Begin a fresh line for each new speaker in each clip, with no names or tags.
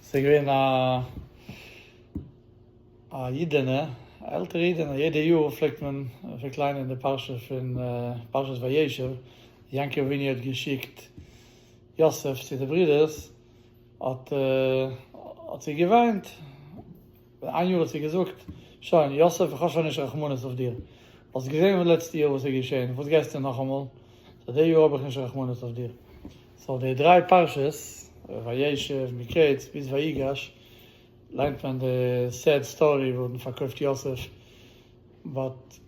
ס'איז געווען א א אידענע, א עלטערע אידענע, יעדע יאר פלעגט מען פלעגט ליינען די פרשה פון פרשת וישב, יעקב אבינו האט געשיקט יוסף צו די ברודערס, האט האט זי געוויינט, ווען איין יאר האט זי געזאגט, שוין, יוסף, איך האב שוין נישט רחמנות אויף דיר. האסט געזען פון לעצטע יאר וואס איז געשען, וואס גייסטו נאכאמאל? זייט די יאר האב איך נישט רחמנות אויף דיר. סאו די דריי פרשות, וישב, מקץ, ביז ויגש, ליינט מען די סעד סטארי וואס האט פארקויפט יוסף, באט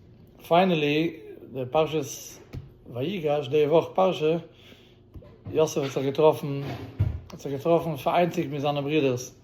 פיינעלי די פרשת ויגש, די וואך פרשה, יוסף האט זיך געטראפן, האט זיך געטראפן פאראיינציגט מיט זיינע ברודערס.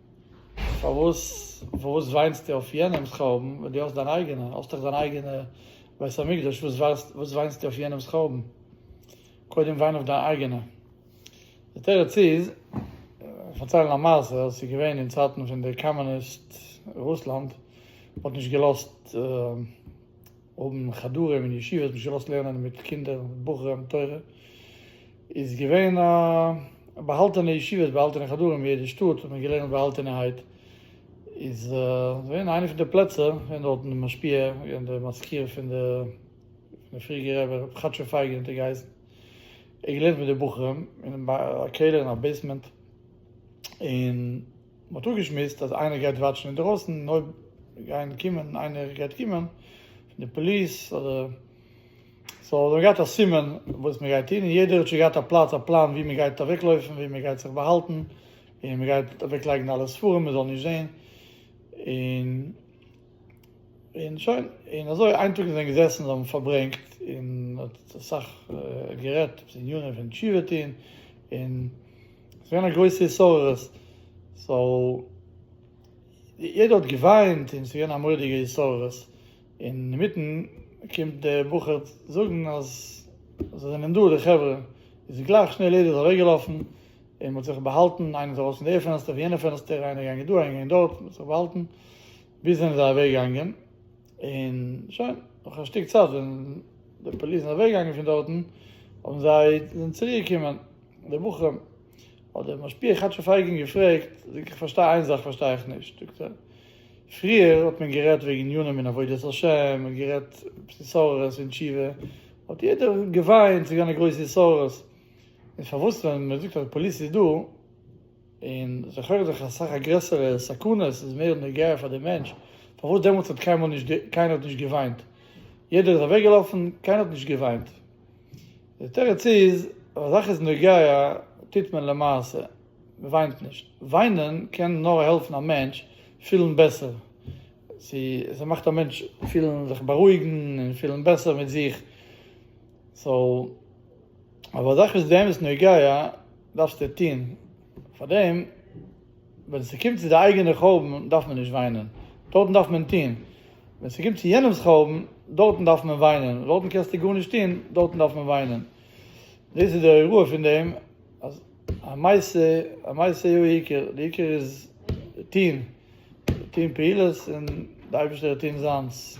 פארוואס פארוואס וויינסטו אויף יענעמס חורבן ווען דו האסט דיין אייגענע? האסט דאך דיין אייגענע בית המקדש, וואס וואס וויינסטו אויף יענעמס חורבן? קודם וויין אויף דיין אייגענע. די תירוץ איז, פארציילן א מעשה וואס איז געווען אין צייטן פון די קאמוניסט רוסלאנד, מ'האט נישט געלאזט. האבן חדרים און ישיבות נישט געלאזט לערנען מיט קינדער מיט בחורים תורה, איז געווען א באהאלטענע ישיבות באהאלטענע חדרים אין יעדע שטאט האט מען געלערנט באהאלטענערהייט, איז געווען איינע פון די פלעצער ווען דארט אין די משפיע געווען די מזכיר פון די פון די פריעדיגע רבי ר' כאטשיג פייגעלין האט ער געהייסן, ער האט געלערנט מיט די בחורים אין א קעלער אין א בעיסמענט, און. מען האט אפגעשמועסט אז איינער גייט וואטשן אינדערויסן און אויב גייען קומען איינער גייט קומען פון די פאליס אדער סאו האט מען געהאט א סימן וואס מען גייט טון און יעדער האט שוין געהאט א פלאץ א פלאן ווי מען גייט אוועקלויפן ווי מען גייט זיך באהאלטן און מען גייט אוועקלייגן אלע ספרים מען זאל נישט זען און און שוין און אזוי איין טאג זיי זענען געזעסן זיי האבן פארברענגט און מען האט אסאך גערעדט אויף די עניינים פון תשובה טון און. געווען א גרויסע התעוררות, סאו יעדער האט געוויינט און ס'איז געווען א מורא'דיגע התעוררות, און אינמיטן קומט די בחור זאגן אז זיי זענען דא די חברה, איז גלייך שנעל יעדער איז אוועק געלאפן, און מ'האט זיך באהאלטן, איינער איז ארויס פון די פענסטער פון יענע פענסטער, איינער געגאנגען דא איינער געגאנגען דארט, מ'האט זיך באהאלטן, ביז זענען זיי אוועק געגאנגען. און שוין, נאך א שטיק צייט ווען די פאליס זענען אוועקגעגאנגען פון דארטן, האבן זיי, זענען צוריקגעקומען די בחורים, האט דער משפיע כאטשיג פייגין געפרעגט, זאג איך פארשטיי איין זאך פארשטיי איך נישט, זאגט ער, פריער האט מען גערעדט וועגן עניינים אין עבודת השם, מען האט גערעדט פון סארעס און תשובה, האט יעדער געוויינט, ס'איז געווען א גרויסע סארעס, און פארוואס ווען מען זאגט אז די פאליס איז דא, און זיי חרט'ן זיך אז סאך א גרעסערע סכנה, עס איז מער נוגע פאר די מענטש, פארוואס דעמאלטס האט קיינמאל נישט, קיינער האט נישט געוויינט, יעדער איז אוועק געלאפן, קיינער האט נישט געוויינט, די תירוץ איז, אויב א זאך איז נוגע טוט מען למעשה, מען וויינט נישט, וויינען קען נאר העלפן א מענטש פילן בעסער, ס'איז מאכט א מענטש פילן זיך בארואיגן און פילן בעסער מיט זיך, סאו אויב א זאך איז באמת נוגע. דארפסטו טון פאר דעם, ווען ס'קומט צו די אייגענע חורבן דארף מען נישט וויינען, דארטן דארף מען טון, ווען ס'קומט צו יענעמ'ס חורבן דארטן דארף מען וויינען, דארטן קענסטו גארנישט טון, דארטן דארף מען וויינען. דאס איז די הוראה פון דעם אז א מעשה, א מעשה הוא העיקר, די עיקר איז טון, טון פעולות און די אייבערשטער וועט טון זיינס.